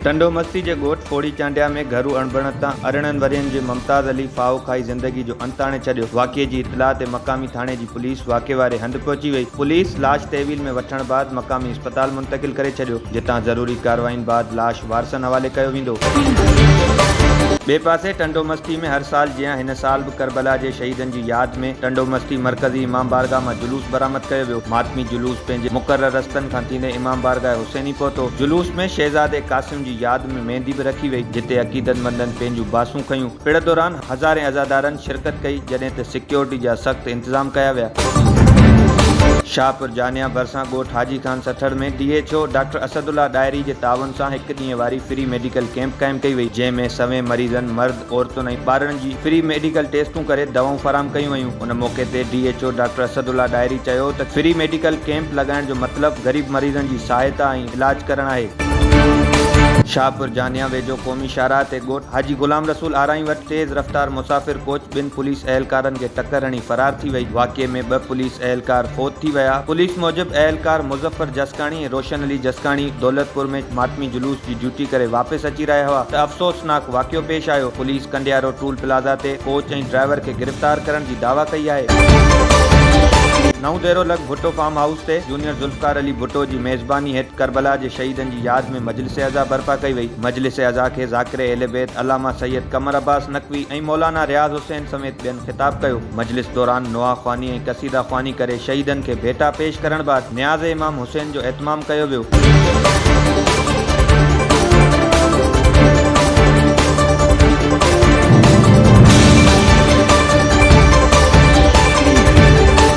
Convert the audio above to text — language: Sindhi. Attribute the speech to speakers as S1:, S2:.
S1: ٽنڊو مستي جي ڳوٺ ڦوڙي چانڊيا ۾ گهرو اڻبڻت تان ارڙهن ورهين جي ممتاز علي ڦاهو کائي زندگي جو انت آڻي ڇڏيو، واقعي جي اطلاع تي مقامي ٿاڻي جي پوليس واقعي واري هنڌ پهچي وئي، پوليس لاش تحويل ۾ وٺڻ بعد مقامي اسپتال منتقل ڪري ڇڏيو، جتان ضروري ڪارواين بعد لاش وارثن حوالي ڪيو ويندو. ٻئي پاسي ٽنڊو مستي ۾ هر سال جيان هن سال به ڪربلا جي شهيدن جي ياد ۾ ٽنڊو مستي مرڪزي امام بارگاهه مان جلوس برآمد ڪيو ويو. ماتمي جلوس پنهنجي مقرر رستن کان ٿيندي امام بارگاهه حسيني پهتو. جلوس ۾ شهزادي قاسم جي ياد ۾ ميندي به رکي وئي جتي عقيدتمندن پنهنجون باسون کنيون. پڙ دوران هزارين عزادارن شرڪت ڪئي، جڏهن ته سيڪيورٽي جا سخت انتظام ڪيا ويا. شاهپور جانيا ڀرسان ڳوٺ Haji Khan سٺڙ ۾ D H O doctor Asad الله ڏاهري جي تعاون سان هڪ ڏينهن واري فري ميڊيڪل ڪيمپ قائم ڪئي وئي، جنهن ۾ سوين مريضن، مرد، عورتن ۽ ٻارڙن جي فري ميڊيڪل ٽيسٽون ڪري دوائون فراهم ڪيون ويون. ان موقعي تي D H O doctor Asad الله ڏاهري چيو ته فري ميڊيڪل ڪيمپ لڳائڻ جو مطلب غريب مريضن جي سهائتا ۽. علاج ڪرڻ آهي. شاهپور جانيان ويجهو قومي شاهراهه تي ڳوٺ حاجي غلام رسول آرائين وٽ تيز رفتار مسافر ڪوچ ٻن پوليس اهلڪارن کي ٽڪر هڻي فرار ٿي وئي، واقعي ۾ ٻه پوليس اهلڪار فوت ٿي ويا، پوليس موجب اهلڪار مظفر جسڪاڻي ۽ روشن علي جسڪاڻي دولتپور ۾ ماتمي جلوس جي ڊيوٽي ڪري واپس اچي رهيا هئا ته افسوسناڪ واقعو پيش آيو، پوليس ڪنڊيارو ٽول پلازا تي ڪوچ ۽ ڊرائيور کي گرفتار ڪرڻ جي دعويٰ ڪئي آهي. نئون ديرو لڳ ڀٽو فارم هائوس تي سينئر ذوالفقار علي ڀٽو جي ميزباني هيٺ ڪربلا جي شهيدن جي ياد ۾ مجلس عزا برپا ڪئي وئي. مجلس عزا کي ذاڪر اهل بيت علامه سيد قمر عباس نقوي ۽ مولانا رياض حسين سميت ٻين خطاب ڪيو. مجلس دوران نوحه خواني ۽ قصيده خواني ڪري شهيدن کي ڀيٽا پيش ڪرڻ بعد نياز امام حسين جو اهتمام ڪيو ويو.